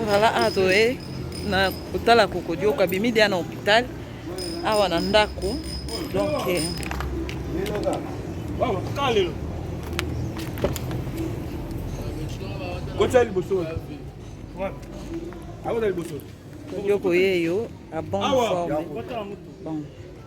Voilà, adoe na kotala kokodioka bimi dia na hôpital awa na ndako donc eh, kotya liboso akoza liboso yoko yeyo abon forme bon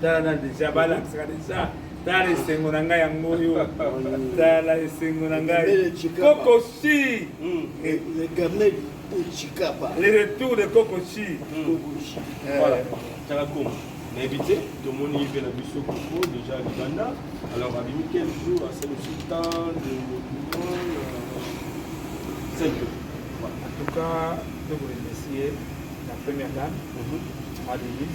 tala na deja balakisaka deja tala esengo na ngai yango oyo tala esengo na ngai kokosi hmm. eh, le retour de kokosi tala koma nayebi te tomoni ye mpe na biso koko deja libanda alors abimi quel jour asali osi temps de cinq en tout cas tokoremercie la première dame mhm. adelis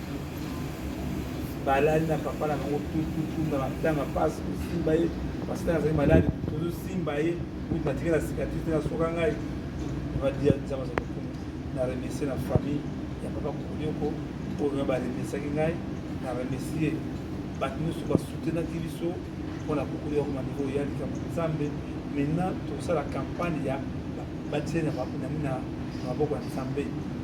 balali na papa na bango tututu na matanga mpasi kosimba ye pasitani azali maladi tozosimba ye kuti natikela sikatrise te nasoka ngai badia nzambe azali kokoma na remercie na famille ya papa kokonyoko oyo baremesaki ngai na remercie bato nyonso basutenaki biso mpo na kokoli ya koma niveau ya likambo nzambe maintenant tosala campagne ya batie na maboko ya nzambe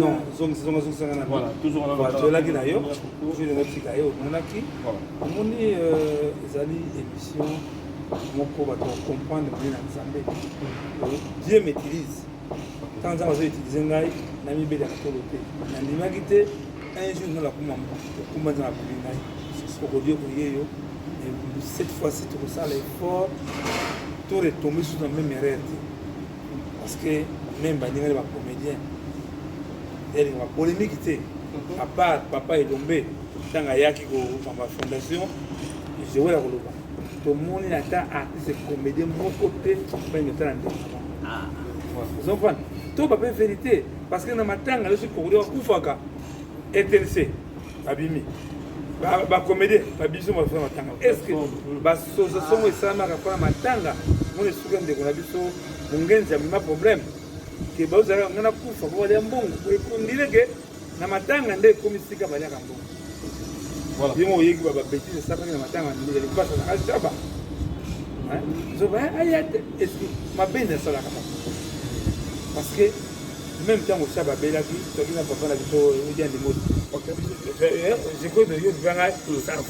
non zongisa zonga zongisa nga na tolaki na yo jour natika ye omonaki omoni euh, ezali émission moko bato bacomprendre moni na nzambe dieu maîtrise ntango nzambe azo utilize ngai namibelaka tolo te nandimaki te un jour nalakuma okumba nzambe akomi ngai okodi okoye yo cette fois ci tokosala effort to retombe sur na même erreur te parce que même baningani bacomédien elinga bapolémiki te à part papa elombe ntango ayaki kokamba fondation joela koloba tomoni ata artiste comédien moko te balingi otala ndeko ah. ozomprendre to bape vérité parce que na matanga yo soki kokoli bakufaka etrc abimi bakomede babiso baza matanga estce basososongo esalamaka mpona matanga mona esuki ya ndeko na biso mongenzi amema problème ke bazalaka ngai nakufa po balya mbongo ekundile ke na matanga nde ekomi sika balyaka mbongo bimo oyeki bababetise esakaki na matanga ndozali mpasa na ashaba zoba aya te mabe nde asalaka parce que Meme tango sa babelaki toki na papa na biso edi andimoti zeko de yo bibanga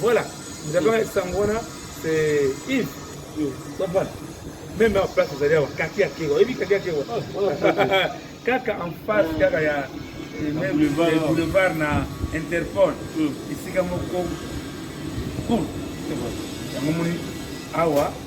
voilà nzabanga sango wana c'est Yves comprendre meme en place ezali awa kaki ya kewa oyebi kaki ya kewa kaka en face kaka ya boulevard na interpol esika moko yango moni awa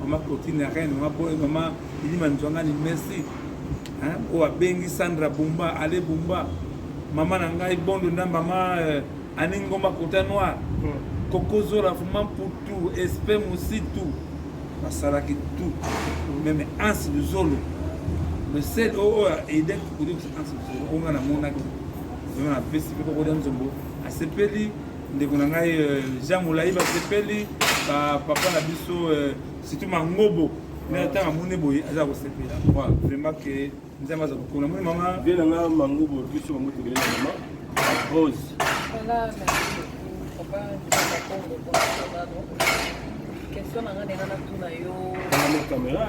Mama Cotine ya Rennes, mama Boy, mama Ilima Nzwangani, merci. Hein? Oyo abengi Sandra Bumba, Ale Bumba. Mama na ngai Bondo na mama euh, Ani Ngomba Kota Noir. Hmm. Koko Zola, Fuma Mputu, Espe Musitu. Basalaki tout. Meme Ansi Luzolo. Le seul oyo aidaki kokoki Ansi Luzolo, oyo nga namonaki. Vraiment napesi mpe koko Dianzombo. Asepeli ndeko na ngai euh, jean molai basepeli bapapa na biso euh, surtout mangobo na ntango amoni boye aza kosepela vraiment ke nzambe aza kokona moni mama vie na nga mangobo biso bango tokele na mama rose question na nga ndenge natuna yo kamera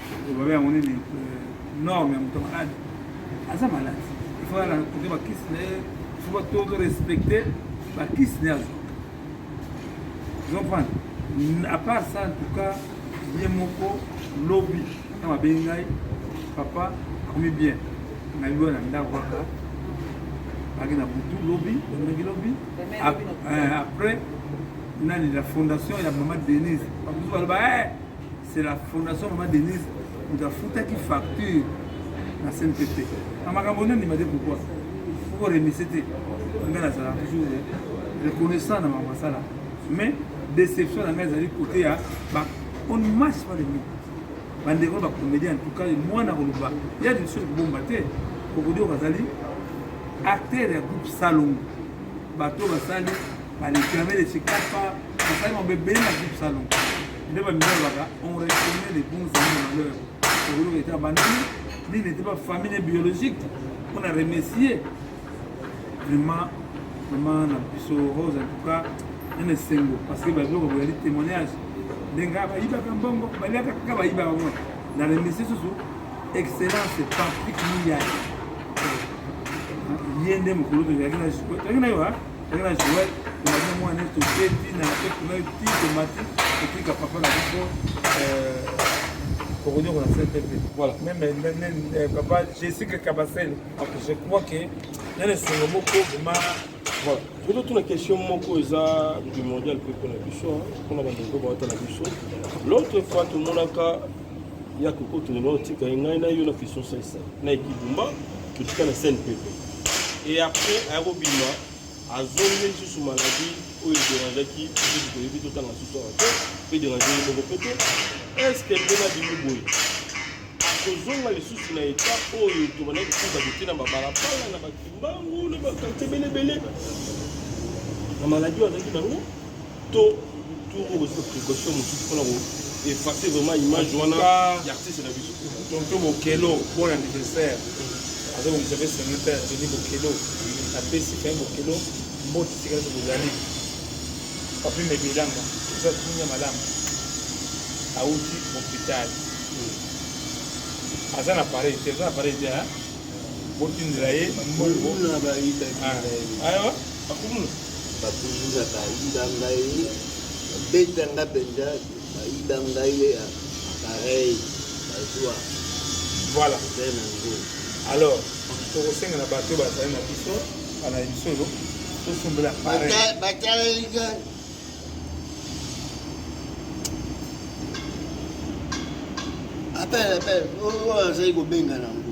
Babe yango nini norme ya moto malade aza malade ifo ya kote bakisi na ye ifo batoto respecte bakisi na ye azwa comprendre à part ça en tout cas ye moko lobi na babengi ngai papa akomi bien nayebi oyo na ndako kaka aki na butu lobi ondaki lobi eh, après nani la fondation ya mama denise bakutu baloba eh, c'est la fondation mama denise moto afutaki facture na cnpp na makambo nde ndima te pourkoi poko remise te ngai nazala toujours reconnaissant na makambo asala mais déception na ngai ezali kote ya on ne marche pas les mots bandeko bacomédien en tout cas mwana koloba ya liso ekobomba te kokodi oyo bazali acteur ya groupe salongo bato basali bareklame lesi kapa basali mabe ebele na groupe salongo nde bamilobaka on reconnaît les bons amis de malheur okoloka ete abandoni ni n'était pas famille biologique on a remercié vraiment vraiment na biso rose en tout cas nana esengo parce que babiloko boyali témoignage ndenge bayibaka mbongo baliaka kaka bayibaka ngo na remercie susu excellence patrick miyaki ye nde mokolo tozalaki na yo Ndenge na Joël, onalia mwana neti otie ti na pepe na yo ti tomati etika papa na biso okonyoko na sete mpe voilà meme papa jessica kabasele je crois que na na esengo moko vrema voilà poto tuna question moko eza primordial mpe mpona biso mpona bandeko bawata na biso l'autre fois tomonaka ya kokotuna otika ye ngai na yo na question sesa na ekibumba totika na scène pepe et après aya kobima azongi lisusu maladie oyo ederangeaki lisusu toyebi totanga susu awa te mpe ederange ye moko mpe te estce mpe na bimi boye akozonga lisusu na eta oyo tobanda kofuta kotie na babalabala na bakimbangu na bakartie belebele na maladie oyo azalaki nango to to okozwa précaution mosusu mpona ko effacer vraiment image wana ya artiste na biso tonto bokelo bon anniversaire aza kobisa mpe senata ya toni bokelo apesi fin bokelo mboti sika nyonso bozali papi mebelanga eza kunya malamu awuti hopital hmm. aza na pareil te aza na pareil te botindela ye mbongo awa akomona babuluna bayiba ngai babeta nga mpenza bayiba ngai ya apareil bazwa voilà alors tokosenga na bato oyo bazali na biso bana emission oyo tosombela batalelika apele apele oyo azali kobenga nango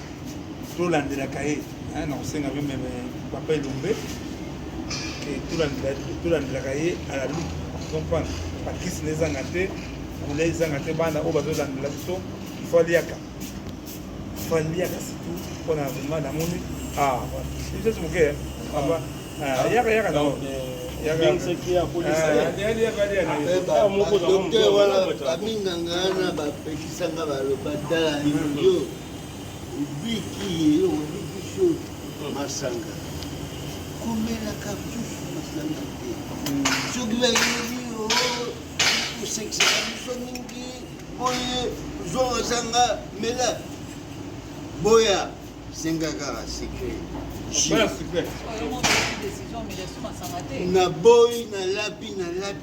tolandelaka ye hein, na kosenga yo meme papa elombe tolandelaka ye ala luki comprendre bakisi na ezanga te bula ezanga te bana oyo bazolandela biso ifo aliaka ifo aliaka surtout mpona vrima namoni biso moke yaka yaka na minganga wana bapekisanga baloba tala yo Obiki ye, obiki so masanga. Komela cartouche masanga te. Soki bayebi yo, kosekisaka biso mingi, boye zonga zanga mela. Boya, senga kaka secret. Jus. na boyi na lapi na lapi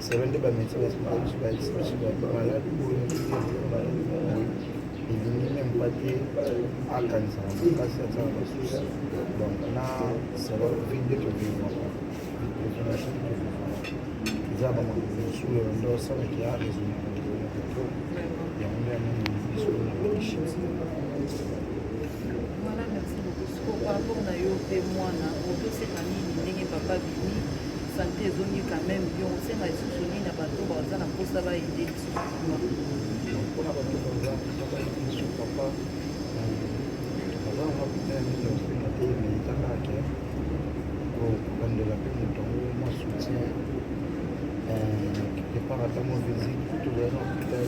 selo nde bameti baspecialiste baexpesi bato maladi elingi meme pas te akanisaka makasi atyaka basusi donc na selo vie nde tokevivaka information tokevivaka eza bamakambo mosusu oyo nde osalaki ya raisonne yango nde yango biso na bishimsi Ko pardon na yo pe mwana ozo senga nini ndenge papa abimi sante ezongi quand meme bien osenga lisusu nini na bato baza na mposa ba aide lisusu kuna mpona bato baza papa aide lisusu papa baza na mapita ya mingi ya kosenga te mais eza kaka ke kobandela mpe moto yango mwa soutien départ ata mwa visite kutu baza na hôpital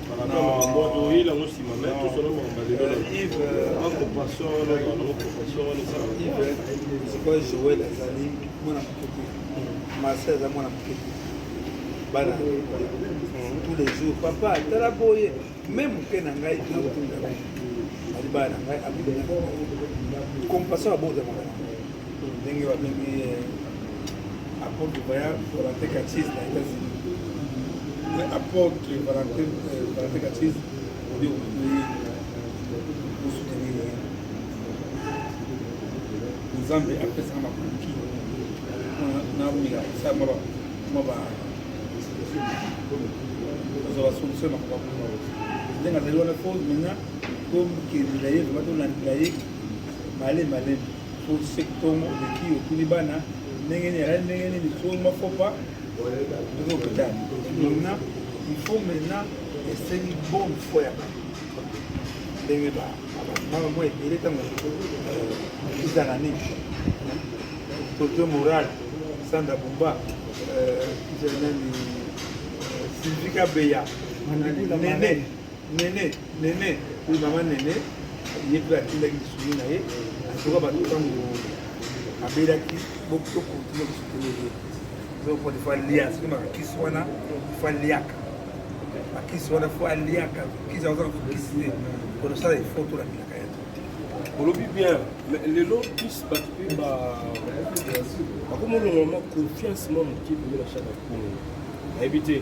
sikoyo joel azali mwana moke te marse aza mwana moke te bana tous les jours papa tala boye me moke na ngai nakotinda ngai ali bana na ngai abinaa compassion abozamaka ndenge babengi eh, apôtre voyant valentin katise na états-unis mais apôtre valentin eh, valentin katise obi okokoye osutenir nzambe apesaka makoki na omela kosala mwa ba kozwa basolution na makambo yango ndenge azali wana po maintenant tomikendela ye vraimen tolandela ye male malemi Fose tongo oleki otuni bana ndenge nini alali ndenge nini fo ma fo pa ndenge hôpital maintenant il faut maintenant esengi bonne foi ya bato ndenge bamama mwa ebele ntango ezala nini totoe moral sanda bumba nani sylvie kabeya nene nene Nene, oui mama Nene, ye mpe atindaki lisuni na ye azoka bato ntango abelaki bokotokontina kosukele ye donc po defa lia soki makisi wana fa liaka makisi wana fo aliaka kisi azala kokisi te po tosala efo tolakilaka ya olobi bien lelo plus bato mpe bakomi olongolama confiance mwa moke pembe na chaka kongo nayebi te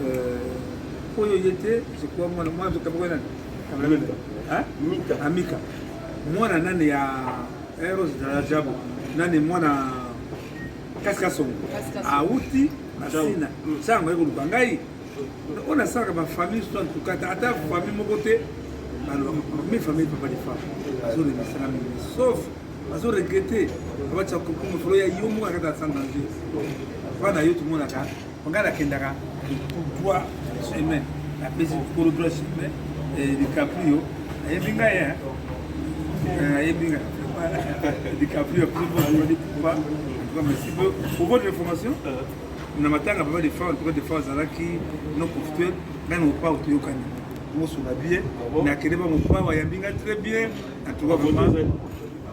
Euh, oyo ye te je crois mwana mwana nzoka moko nani amika amika mwana nani ya eros eh, dala jabo nani mwana kasikasongo awuti na sina sango ye koluka ngai oyo nasalaka bafamille so antukata ata famille moko te mi famille papa de femme azolemisaka mingi sauf bazo regrete abatia kokoma folo ya yo moko akata sans danger wana yo tomonaka Nga nakendaka droit chemin, napesi kolo droit chemin, DiCaprio ayebi nga ye, ayebi nga DiCaprio apesi mpo azali poupa, en tout cas merci pour votre information. na matanga papa de fort papa de fort azalaki non confituel ngai na opao toyokani moso na bie nakende bango opao ayambi ngai très bien en tout cas vraiment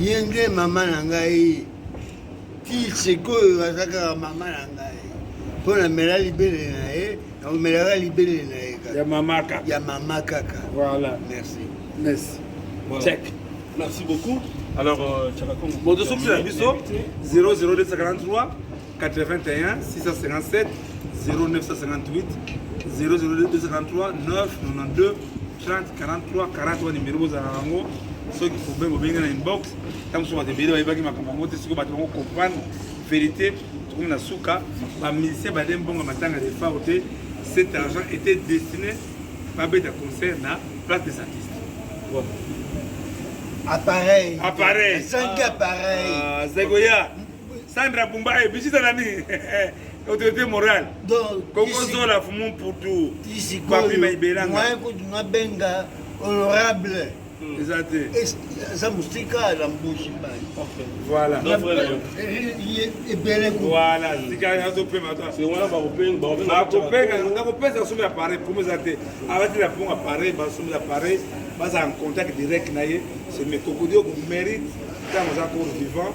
ye nde mama na ngai ti sikoyo aza kaka mama na ngai mpo namela libele na ye nakomelaka libele na ye kaka ya mama kaka voilà merci merci voilà. check merci beaucoup alors euh, chakakongo moto sokisi na biso 00243 81 657 0958 00243 992 30 43 40 wana nimero bozala yango soki problème obengi na inbox ntango mosusu bato ebele bayebaki makambo yango te soki bato bango comprendre vérité tokomi na suka bamusicien bade mbongo matanga defao te cet argent était destiné babeta concert na place des artistes bon. appareil appareil ezangi appareil ah, azakoya Sandra Bumba eh, bisita nani autorité morale kokozola fumu mputu papi maibelanga moyen kutu nabenga honorable hmm. eza te aza mosika na mbushi mbai voilà ebele voilà tika azopema bakopenga nakopesa somi appareil promo eza te alati na pongo appareil basomi appareil baza en contact direct na ye se mekokodi oko mérite ntango aza cour vivant